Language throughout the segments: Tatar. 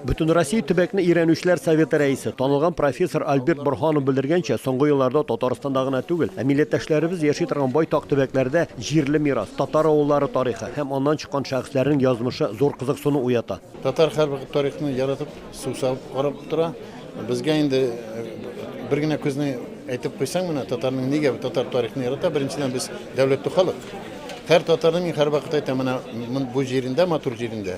Бөтенроссия төбәкне өйрәнүчеләр советы рәисе, танылган профессор Альберт Борһанов белдергәнчә, соңгы елларда Татарстанда гына түгел, ә милләттәшләребез яши торган байтак төбәкләрдә җирле мирас, татар авыллары тарихы һәм аннан чыккан шәхесләрнең язмышы зур кызыксыну уята. Татар һәрвакыт тарихны яратып, су савып карап тора. Безгә инде бер генә күзне әйтеп куйсаң, менә татарның нигә татар тарихны ярата, беренчедән без дәүләтле халык. Һәр татарның, мин һәрвакыт әйтәм, менә бу җирендә, матур җирендә,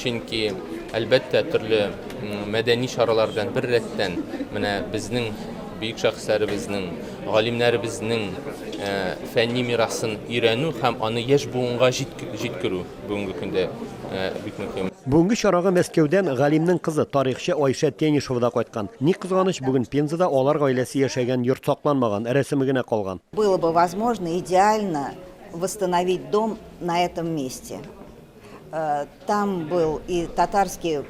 Чөнки, әлбәттә, төрле мәдәни чаралар белән беррәттән, менә безнең бөек шәхесләребезнең, галимнәребезнең фәнни мирасын өйрәнү һәм аны яшь буынга җиткерү бүгенге көндә бик мөһим. Бүгенге чарага Мәскәүдән галимнең кызы, тарихчы Айшә Тенишева да кайткан. Ни кызганыч, бүген Пензада алар гаиләсе яшәгән йорт сакланмаган, рәсеме генә калган. Было бы возможно идеально восстановить дом на этом месте. Там был и татарский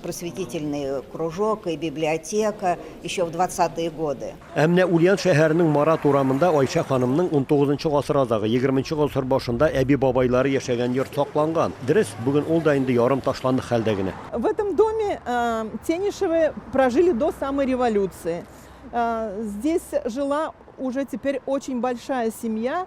просветительный кружок, и библиотека еще в 20-е годы. Ә менә Ульян шәһәренең Марат урамында Айша ханымның 19 гасыр азагы, 20 гасыр башында әби-бабайлары яшәгән йорт сакланган. Дөрес, бүген ул да инде ярым ташландык хәлдә генә. В этом доме э, Тенишевы прожили до самой революции. Э, здесь жила уже теперь очень большая семья,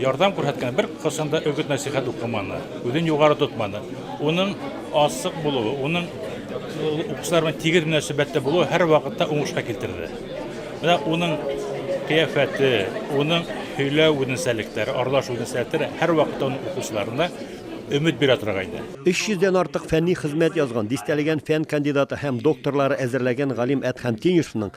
Ярдәм күрһәткән бер кайсын да өгет-нәсыйхәт укыманы, үзен югары тотманы. Уның асык булуы, уның укучылар белән тигез мөнәсәбәттә булуы һәр вакытта уңышка китерде. Менә уның кыяфәте, уның һөйләү үзенчәлекләре, аралашу үзенчәлекләре һәр вакытта уның укучыларына өмет бирә торган иде. 300 дән артык фәнни хезмәт язган, дистәләгән фән кандидаты һәм докторлары әзерләгән галим Әдһәм Тиньюсовның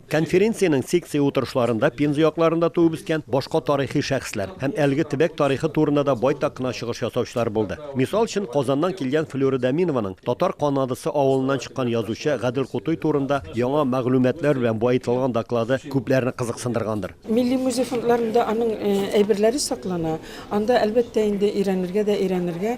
Конференциянең секция утырышларында Пенза якларында туып-үскән башка тарихи шәхесләр һәм әлеге төбәк тарихы турында да байтак кына чыгыш ясаучылар булды. Мисал өчен, Казаннан килгән Флюра Даминованың Татар Канадасы авылыннан чыккан язучы Гадел Кутуй турында яңа мәгълүматлар белән баетылган доклады күпләрне кызыксындыргандыр. Милли музей фондларында аның әйберләре саклана. Анда, әлбәттә инде, өйрәнергә дә өйрәнергә,